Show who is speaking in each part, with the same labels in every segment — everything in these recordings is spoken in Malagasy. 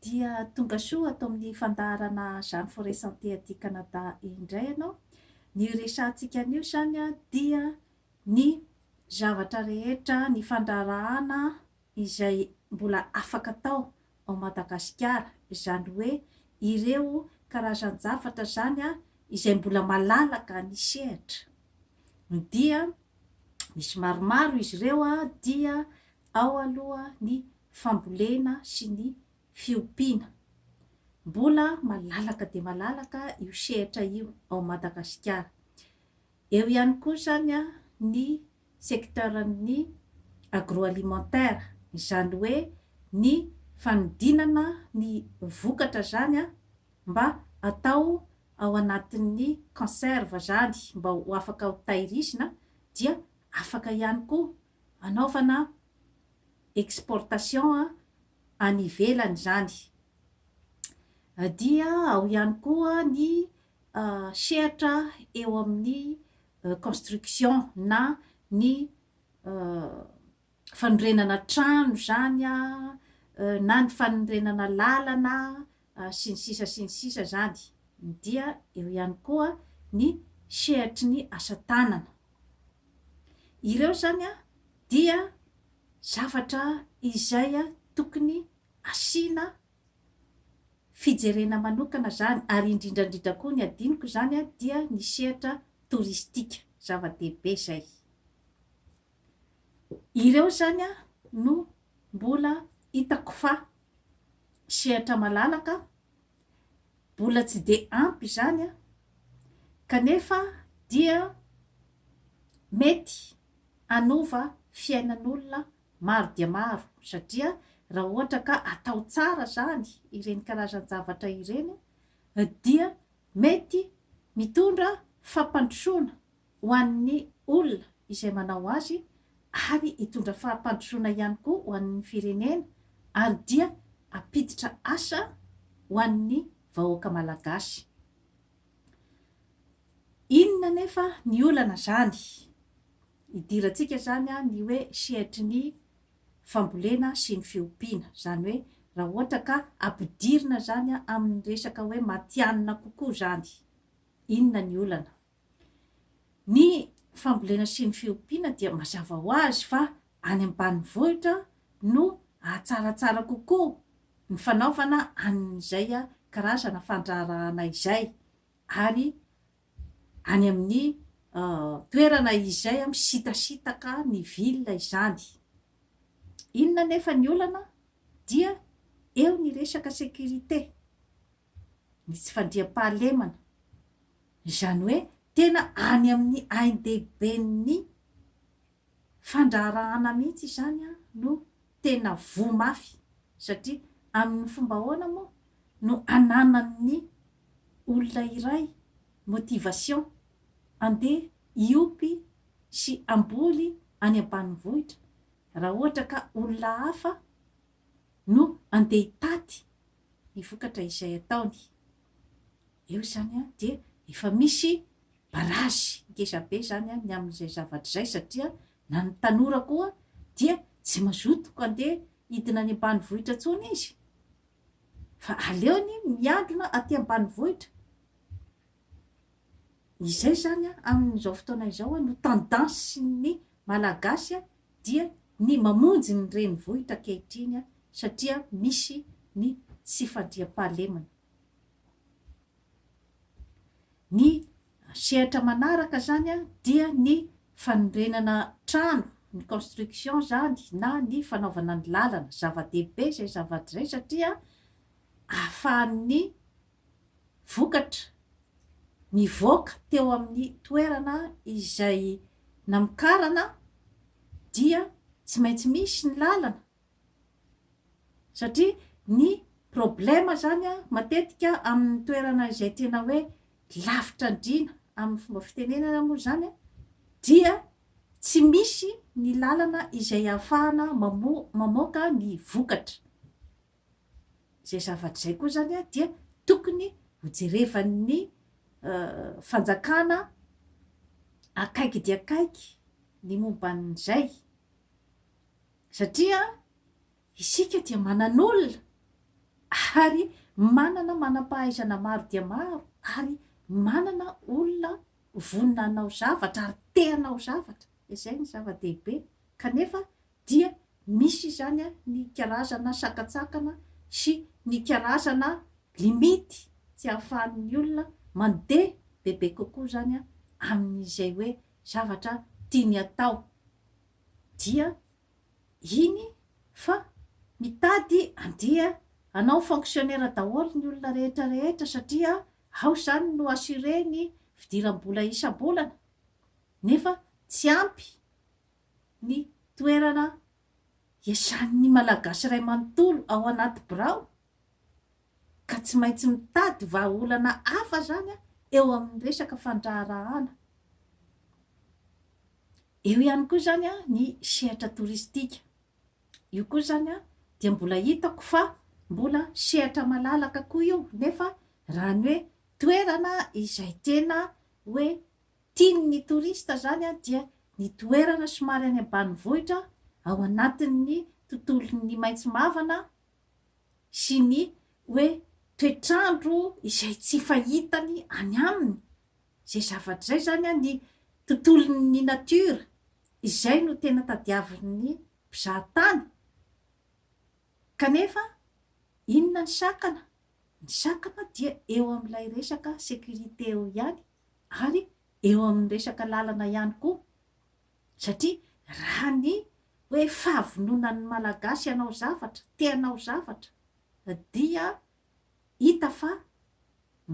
Speaker 1: Dia tonga soa ato amin'ny fandaharana Jeanne Forest Santé aty Canada indray ianao. Ny hiresahantsika anio izany dia ny zavatra rehetra, ny fandraharahana izay mbola afaka atao ao Madagasikara, izany hoe ireo karazan-javatra izany izay mbola malalaka ny sehatra. Dia misy maromaro izy ireo dia ao aloha ny fambolena sy ny fiompiana. Mbola malalaka dia malalaka io sehatra io ao Madagasikara. Eo ihany koa izany ny secteur-n'ny agroalimentaire, izany hoe ny fanodinana ny vokatra izany mba atao ao anatin'ny conserve izany mba ho afaka ho tahirizina dia afaka ihany koa anaovana exportation any ivelany izany dia ao ihany koa ny sehatra eo amin'ny construction na ny fanorenana trano izany na ny fanorenana lalana sy ny sisa sy ny sisa zany, dia eo ihany koa ny sehatry ny asa tanana. Ireo zany dia zavatra izay tokony asiana fijerena manokana zany ary indrindra indrindra koa ny adinoko zany dia ny sehatra toristika, zava-dehibe zay. Ireo izany no mbola hitako fa sehatra malalaka, mbola tsy dia ampy izany kanefa dia mety hanova fiainan'olona maro dia maro satria raha ohatra ka atao tsara izany ireny karazan-javatra ireny dia mety mitondra fampandrosoana ho an'ny olona izay manao azy ary hitondra fahampandrosoana ihany koa ho an'ny firenena ary dia hampiditra asa ho an'ny vahoaka malagasy. Inona anefa ny olana zany? Idirantsika zany ny hoe sehatry ny fambolena sy ny fiompiana. Zany hoe raha ohatra ka ampidirina zany amin'ny resaka hoe matihanina kokoa zany. Inona ny olana? Ny fambolena sy ny fiompiana dia mazava ho azy fa any ambanivohitra no ahatsaratsara kokoa ny fanaovana an'izay karazana fandraharahana izay ary any amin'ny toerana izay misitasitaka ny ville izany. Inona anefa ny olana dia eo ny resaka sécurité. ny tsy fandriampahalemana, izany hoe tena any amin'ny ain-dehiben'ny fandraharahana mihitsy izany no tena voa mafy, satria amin'ny fomba ahoana moa no ananan'ny olona iray motivation handeha hiopy sy hamboly any ambanivohitra raha ohatra ka olona hafa no handeha hitaty ny vokatra izay ataony. Eo izany an, dia efa misy barazy ngeza be izany an ny amin'izay zavatra izay satria na ny tanora koa dia tsy mazoto handeha hidina any ambanivohitra intsony izy fa aleony miadona aty ambanivohitra. Izay izany an amin'izao fotoana izao an no tendance ny malagasy an dia ny mamonjy ny renivohitra ankehitriny satria misy ny tsy fandriampahalemana. Ny sehatra manaraka izany dia ny fanorenana trano, ny construction izany na ny fanaovana ny lalana. Zava-dehibe izay zavatra izay satria ahafahan'ny. vokatra nivoaka teo amin'ny toerana izay namokarana dia tsy maintsy misy ny lalana satria ny problema zany a matetika amin'ny toerana izay tena hoe lavitra andriana amin'ny fomba fitenenana moa zany a dia tsy misy ny lalana izay ahafahana mamoaka ny vokatra. Izay zavatra izay koa izany dia tokony hojerevan'ny fanjakana akaiky dia akaiky ny momba an'izay, satria isika dia manan'olona ary manana manam-pahaizana maro dia maro ary manana olona vonona hanao zavatra ary te hanao zavatra, izay no zava-dehibe, kanefa dia misy izany ny karazana sakantsakana sy ny karazana limite tsy ahafahan'ny olona mandeha bebe kokoa izany amin'izay hoe zavatra tiany atao dia iny fa mitady andeha hanao fonctionnaire daholo ny olona rehetra rehetra satria ao izany no assurer ny fidiram-bola isam-bolana nefa tsy ampy ny toerana hiasan'ny Malagasy iray manontolo ao anaty birao ka tsy maintsy mitady vahaolana hafa izany eo amin'ny resaka fandraharahana. Eo ihany koa izany ny sehatra toristika. Io koa izany dia mbola hitako fa mbola sehatra malalaka koa io nefa raha ny hoe toerana izay tena hoe Tian' ny torista izany dia ny toerana somary any ambanivohitra ao anatin' ny tontolon' ny maitso mavana sy ny hoe toetrandro izay tsy fahitany any aminy izay zavatra izay izany ny tontolon' ny natiora izay no tena tadiavin' ny mpizahatany kanefa inona ny sakana? Ny sakana dia eo amin' ilay resaka sécurité eo ihany ary eo amin'ny resaka lalana ihany koa satria raha ny hoe fahavononan'ny Malagasy hanao zavatra, te hanao zavatra dia hita fa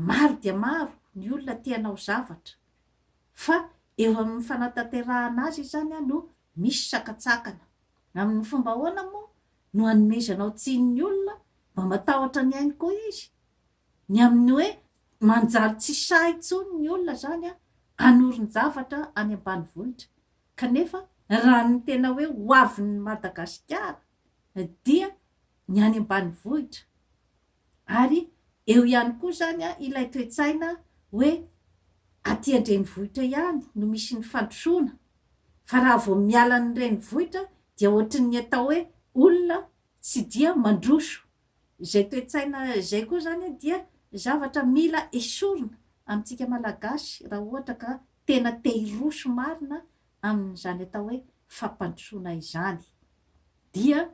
Speaker 1: maro dia maro ny olona te hanao zavatra fa eo amin'ny fanatanterahana azy izany no misy sakantsakana. Amin'ny fomba ahoana moa no hanomezanao tsiny ny olona mba matahotra ny ainy koa izy Ny amin'ny hoe manjary tsy sahy intsony ny olona zany hanorin-javatra any ambanivohitra kanefa raha ny tena hoe ho avin'ny Madagasikara dia ny any ambanivohitra ary eo ihany koa zany ilay toe-tsaina hoe aty an-drenivohitra ihany no misy ny fandrosoana fa raha vao miala ny renivohitra dia ohatrin'ny atao hoe olona Tsy dia mandroso. Izay toe-tsaina izay koa izany dia zavatra mila esorina amintsika Malagasy raha ohatra ka tena te hiroso marina amin'izany atao hoe fampandrosoana izany dia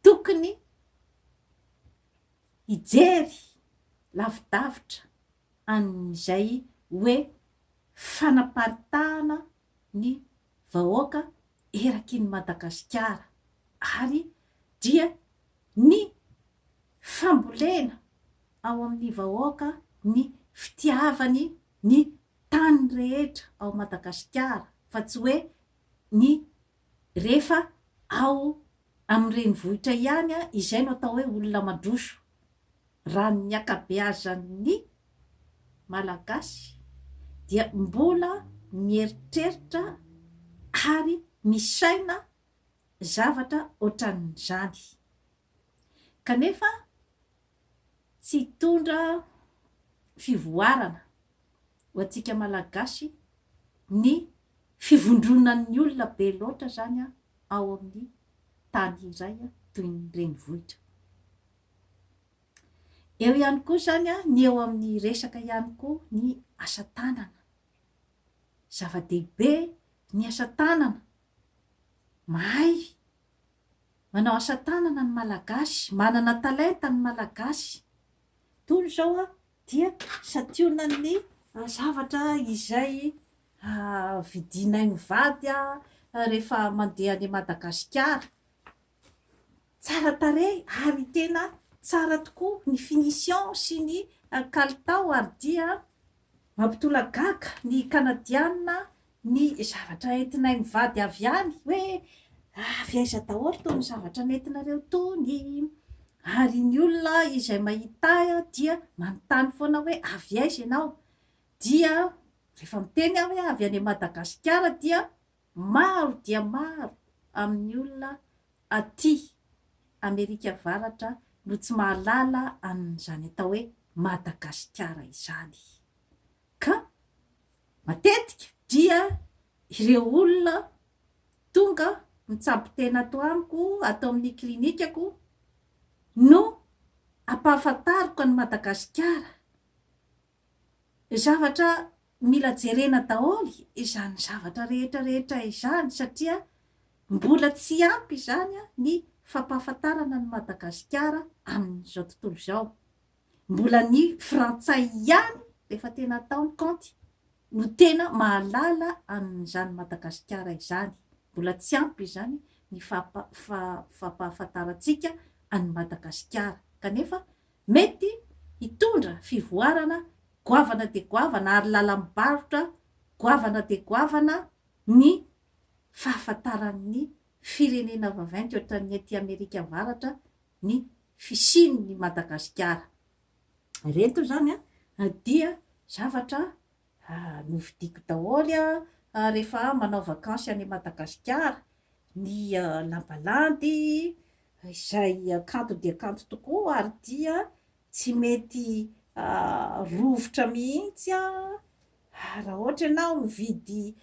Speaker 1: tokony hijery lavidavitra an'izay hoe fanaparitahana ny vahoaka erakin'i Madagasikara ary dia ny fambolena ao amin'ny vahoaka ny fitiavany ny tany rehetra ao Madagasikara fa tsy hoe ny rehefa ao amin'ny renivohitra ihany izay no atao hoe olona mandroso, raha ny ankabeazan'ny Malagasy dia mbola mieritreritra ary misaina zavatra ohatran'izany. kanefa tsy hitondra fivoarana ho antsika Malagasy ny fivondronan'ny olona be loatra izany ao amin'ny tany iray toy ny renivohitra. Eo ihany koa izany ny eo amin'ny resaka ihany koa ny asa tanana. Zava-dehibe ny asa tanana, mahay Manao asa tanana ny Malagasy, manana talenta ny Malagasy. Toy izao aho dia santionan'ny zavatra izay vidinay mivady aho rehefa mandeha any Madagasikara. Tsara tarehy ary tena tsara tokoa ny finition sy ny kalitao ary dia mampitolagaga ny Kanadiana Ny zavatra entinay mivady avy any, hoe avy aiza daholo itony zavatra nentinareo itony? Ary ny olona izay mahita ahy dia manontany foana hoe avy aiza ianao? Dia rehefa miteny aho hoe avy any Madagasikara dia maro dia maro amin'ny olona aty Amerika Avaratra no tsy mahalala an'izany atao hoe Madagasikara izany. Ka. Matetika dia ireo olona tonga mitsabo tena ato amiko, ato amin'ny klinikako no ampahafantariko an'i Madagasikara. Zavatra mila jerena daholo izany zavatra rehetra rehetra izany satria mbola tsy ampy izany ny fampahafantarana an'i Madagasikara amin'izao tontolo izao. Mbola ny frantsay ihany efa tena tao ny kaonty no tena mahalala an'izany Madagasikara izany. Mbola tsy ampy izany ny fampahafantarantsika an'i Madagasikara kanefa mety hitondra fivoarana goavana dia goavana ary lalam-barotra goavana dia goavana ny fahafantaran'ny firenena vaventy ohatran'ny aty Amerika Avaratra ny fisian'ny Madagasikara ireto izany dia zavatra novidiako daholo rehefa aho manao vakansy any Madagasikara, ny lamba landy izay kanto dia kanto tokoa ary dia tsy mety rovitra mihitsy raha ohatra ianao mividy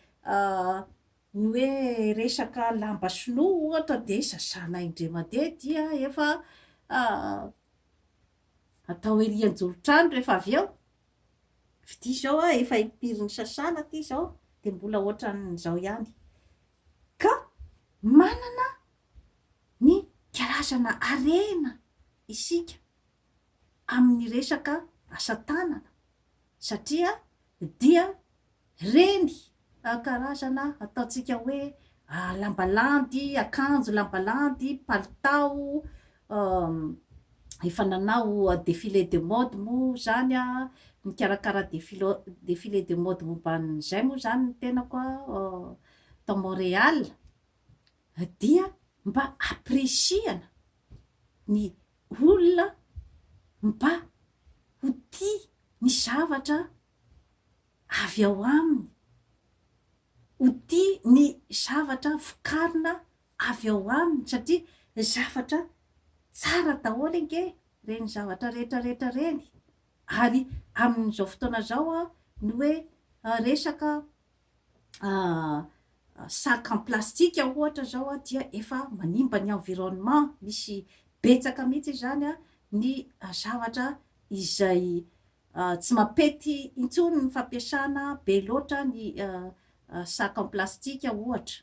Speaker 1: Ny hoe resaka lamba sinoa ohatra dia sasana indray mandeha dia efa atao ery anjoron-trano rehefa avy eo, fitia izao a, efa impiry nisasana ity izao dia mbola ohatran'izao ihany. Ka manana ny karazana harena isika. amin'ny resaka asa tanana satria dia ireny karazana ataontsika hoe lamba landy, akanjo lamba landy, palitao, efa nanao défilé de mode moa izany aho, nikarakara défilé de mode momba an'izay moa izany ny tenako tao Montréal dia mba appreciana ny olona mba ho tia ny zavatra avy ao aminy, ho tia ny zavatra vokarina avy ao aminy satria zavatra tsara daholo ange ireny zavatra rehetra rehetra ireny ary amin'izao fotoana izao ny hoe resaka sac en plastique ohatra zao dia efa manimba ny environnement, misy betsaka mihitsy izany ny zavatra izay tsy mampety intsony ny fampiasana be loatra ny sac en plastique ohatra.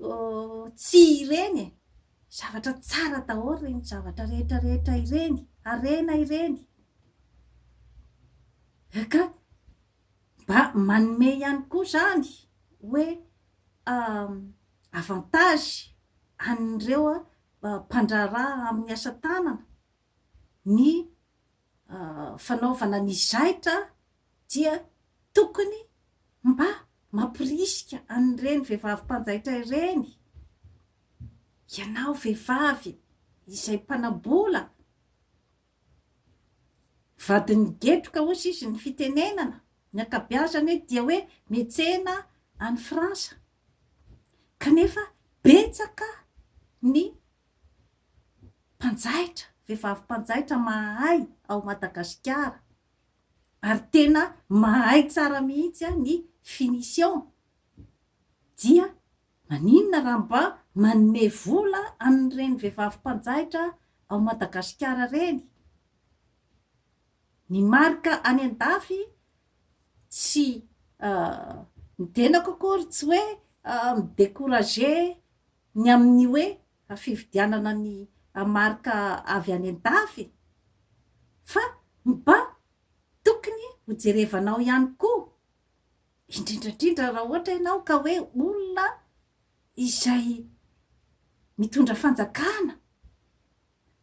Speaker 1: Oh tsia ireny e! Zavatra tsara daholo ireny zavatra rehetra rehetra ireny, harena ireny. Eka! Mba manome ihany koa izany hoe avantage an'ireo mpandraharaha amin'ny asa tanana ny fanaovana ny zaitra dia tokony mba mamporisika an'ireny vehivavy mpanjaitra ireny, ianao vehivavy izay mpanam-bola, vadin'ny getroka hozy izy ny fitenenana, ny ankabiazany dia hoe metsena any Frantsa, kanefa betsaka ny mpanjaitra, vehivavy mpanjaitra mahay ao Madagasikara ary tena mahay tsara mihitsy ny finition dia maninona raha mba manome vola an'ireny vehivavy mpanjaitra ao Madagasikara ireny? Ny marika any an-dafy tsy midenako akory tsy hoe mi-decourager ny amin'ny hoe fividianana ny marika avy any an-dafy fa mba tokony hojerevanao ihany koa indrindra indrindra raha ohatra ianao ka hoe olona izay mitondra fanjakana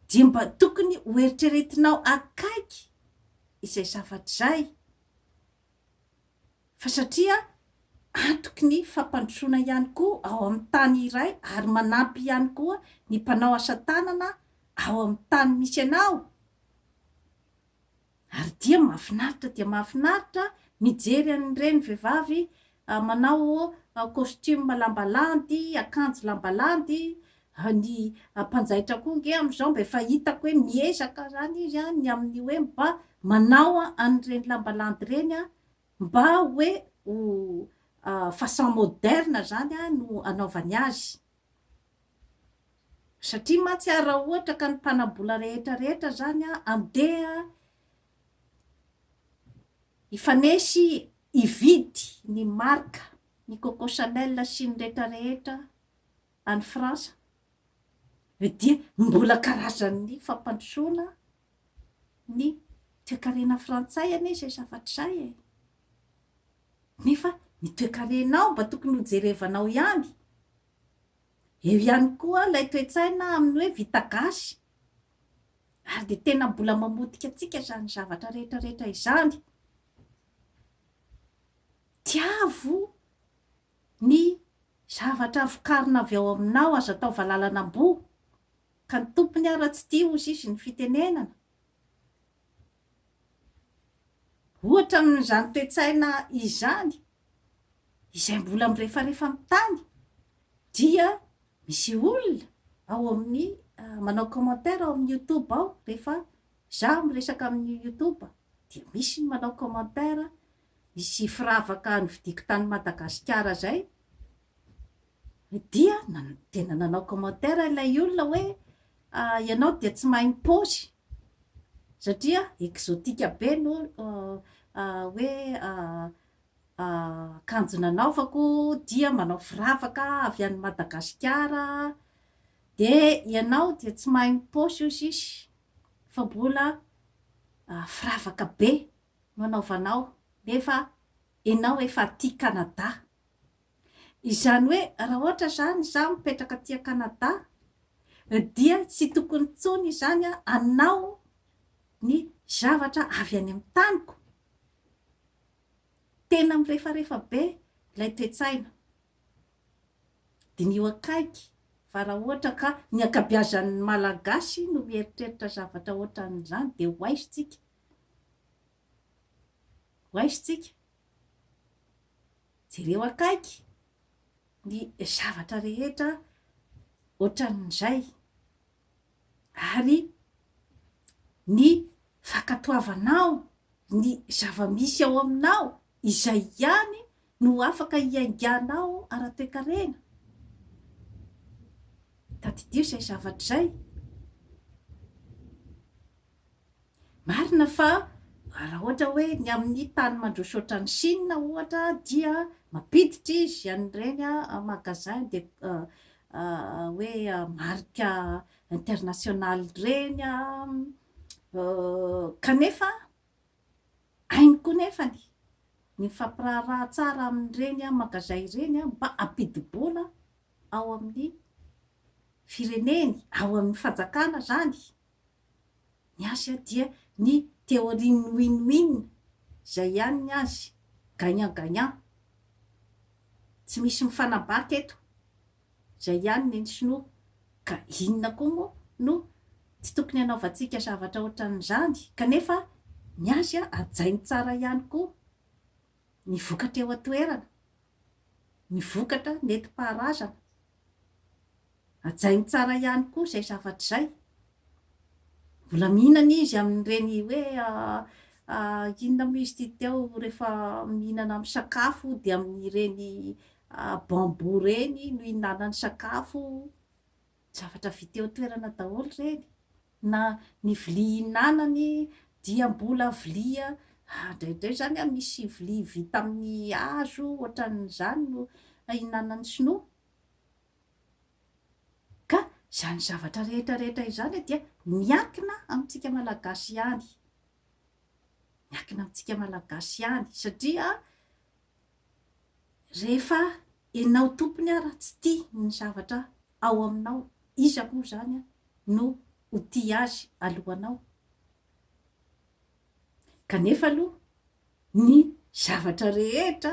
Speaker 1: dia mba tokony hoeritreretinao akaiky izay zavatra izay fa satria antoky ny fampandrosoana ihany koa ao amin'ny tany iray ary manampy ihany koa ny mpanao asa tanana ao amin'ny tany misy anao ary dia mahafinaritra dia mahafinaritra mijery an'ireny vehivavy manao costume lamba landy, akanjo lamba landy Fa ny mpanjaitra koa nge amin'izao mba efa hitako hoe miezaka izany izy an, ny amin'ny hoe mba manao an'ireny lamba landy ireny an, mba hoe ho façon moderne izany an no anaovany azy. Satria mantsy an raha ohatra ka ny mpanam-bola rehetra rehetra izany an andeha hifanesy hividy ny marque ny coco chanel sy ny rehetra rehetra any Frantsa ve dia mbola karazan'ny fampandrosoana ny toekarena frantsay anie izay zavatra izay e! Nefa ny toekarenao mba tokony ho jerevanao ihany. Eo ihany koa ilay toe-tsaina amin'ny hoe vita gasy ary dia tena mbola mamotika antsika izany zavatra rehetra rehetra izany. Tiavo Ny zavatra vokarina avy ao aminao aza atao valalan'amboa, ka ny tompony ary tsy tia hozy izy ny fitenenana. Ohatra amin'izany toe-tsaina izany, izay mbola mirefarefa amin'ny tany, dia misy olona ao amin'ny manao commentaire ao amin'ny youtube ao, rehefa izaho miresaka amin'ny youtube dia misy ny manao commentaire sy firavaka novidiako tany Madagasikara zay dia tena nanao commentaire ilay olona hoe ianao dia tsy mahay mipaozy satria exotique be no hoe akanjo nanaovako dia manao firavaka avy any Madagasikara dia ianao dia tsy mahay mipaosy hoy izy fa mbola firavaka be no anaovanao nefa enao efa aty Canada. Izany hoe raha ohatra zany izaho mipetraka aty a Canada dia tsy tokony intsony izany aho hanao ny zavatra avy any amin'ny taniko? Tena mirefarefa be ilay toe-tsaina. Diniho akaiky fa raha ohatra ka ny ankabiazan'ny Malagasy no mieritreritra zavatra ohatran'izany dia ho aiza tsika? Hoaisintsika. Jereo akaiky ny zavatra rehetra ohatran'izay ary ny fankatoavanao ny zava-misy ao aminao izay ihany no afaka hiainganao ara-toekarena. Tadidio izay zavatra izay. Marina fa raha ohatra hoe ny amin'ny tany mandroso ohatran'i Chine ohatra dia mampiditra izy an'ireny magasin de hoe marika international ireny kanefa hainy koa nefany ny mifampiraharaha tsara amin'ireny magasin ireny mba hampidi-bola ao amin'ny fireneny, ao amin'ny fanjakana izany Ny azy dia ny teorian'ny win-win, izay ihany ny azy, gagnant-gagnant. Tsy misy mifanabaka eto. Izay ihany ny an'ny sinoa. Ka inona koa moa no tsy tokony hanaovantsika zavatra ohatran'izany? Kanefa ny azy hajainy tsara ihany koa ny vokatra eo an-toerana, ny vokatra nentim-paharazana. Hajainy tsara ihany koa izay zavatra izay. Mbola mihinana izy amin'ireny hoe inona moa izy ity teo rehefa mihinana amin'ny sakafo dia amin'ireny bambou ireny no ihinanany sakafo. Zavatra vita eo an-toerana daholo ireny. Na ny vilia ihinanany dia mbola vilia indraindray izany misy vilia vita amin'ny hazo ohatran'izany no ihinanan'ny sinoa. Ka izany zavatra rehetra rehetra izany dia miankina amintsika Malagasy ihany. Miankina amintsika Malagasy ihany satria rehefa enao tompony ara tsy tia ny zavatra ao aminao, iza moa izany no ho tia azy alohanao? Kanefa aloha, ny zavatra rehetra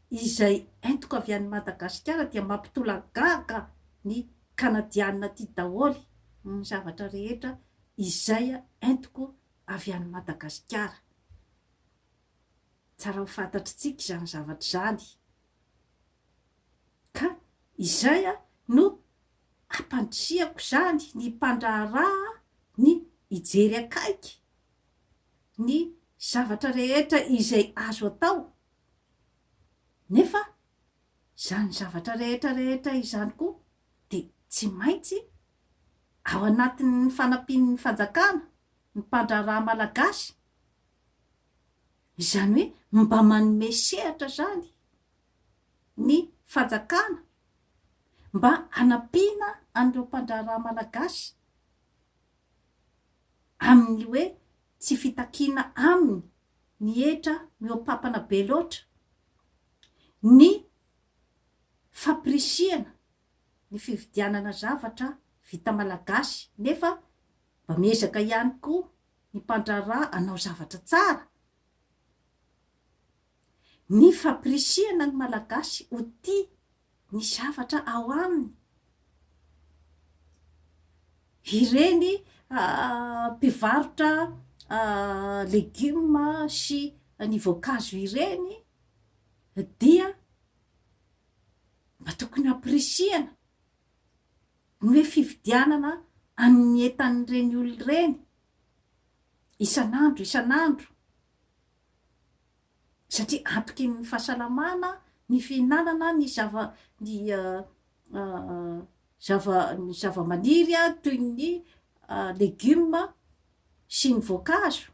Speaker 1: izay entiko avy any Madagasikara dia mampitolagaga ny Kanadianina aty daholo, ny zavatra rehetra izay entiko avy any Madagasikara. Tsara ho fantatr'itsika izany zavatra izany. Ka izay no hampandrisihako izany ny mpandraharaha ny hijery akaiky ny zavatra rehetra izay azo atao, nefa izany zavatra rehetra rehetra izany koa dia tsy maintsy ao anatin'ny fanampian'ny fanjakana ny mpandraharaha malagasy, izany hoe mba manome sehatra izany ny fanjakana mba hanampiana an'ireo mpandraharaha malagasy. amin'ny hoe tsy fitakiana aminy ny hetra mihoapampana be loatra, ny fampirisihana ny fividianana zavatra vita malagasy nefa mba miezaka ihany koa ny mpandraharaha hanao zavatra tsara. Ny fapirisihana ny Malagasy ho tia ny zavatra ao aminy, ireny mpivarotra legioma sy ny voankazo ireny dia mba tokony hampirisihana ny hoe fividianana amin'ny entan'ireny olona ireny isan'andro isan'andro. satria antoky ny fahasalamana ny fihinanana ny zava ny zava ny zava-maniry toy ny legioma sy ny voankazo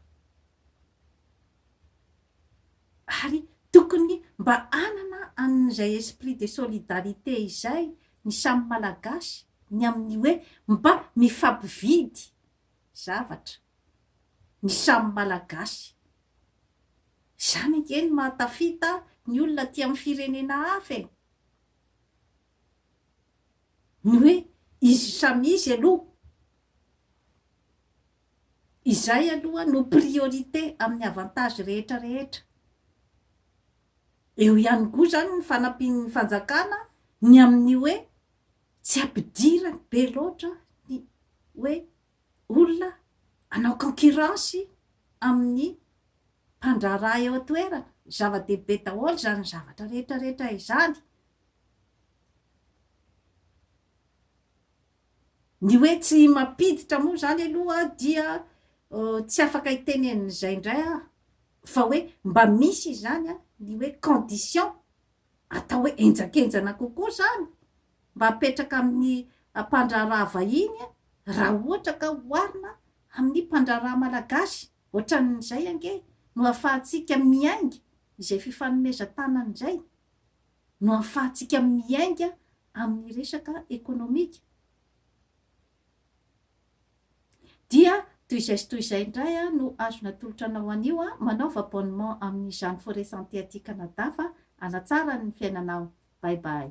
Speaker 1: ary tokony mba hanana an'izay esprit de solidarité izay ny samy malagasy ny amin'ny hoe mba mifampividy zavatra ny samy Malagasy. Izany ange no mahatafita ny olona aty amin'ny firenena hafa e! Ny hoe izy samy izy aloha. Izay aloha no priorité amin'ny avantage rehetra rehetra. Eo ihany koa izany ny fanampian'ny fanjakana ny amin'ny hoe tsy ampidirany be loatra ny hoe olona hanao concurrence amin'ny mpandraharaha eo an-toerana. Zava-dehibe daholo izany zavatra rehetrarehetra izany. Ny hoe tsy mampiditra moa izany aloha dia tsy afaka hiteny an'izay indray aho, fa hoe mba misy izany ny hoe condition. atao hoe henjakenjana kokoa izany mba hapetraka amin'ny mpandraharaha vahiny raha ohatra ka oharina amin'ny mpandraharaha malagasy. Ohatran'izay ange no ahafahantsika miainga izay fifanomezan-tanana izay no ahafahantsika miainga amin'ny resaka ekonomika. Dia toy izay sy toy izay indray aho no azo natolotra anao anio an! Manaova abonnement amin'ny Jeanne Forêt Santé aty Canada fa hanatsara ny fiainanao! Bye bye!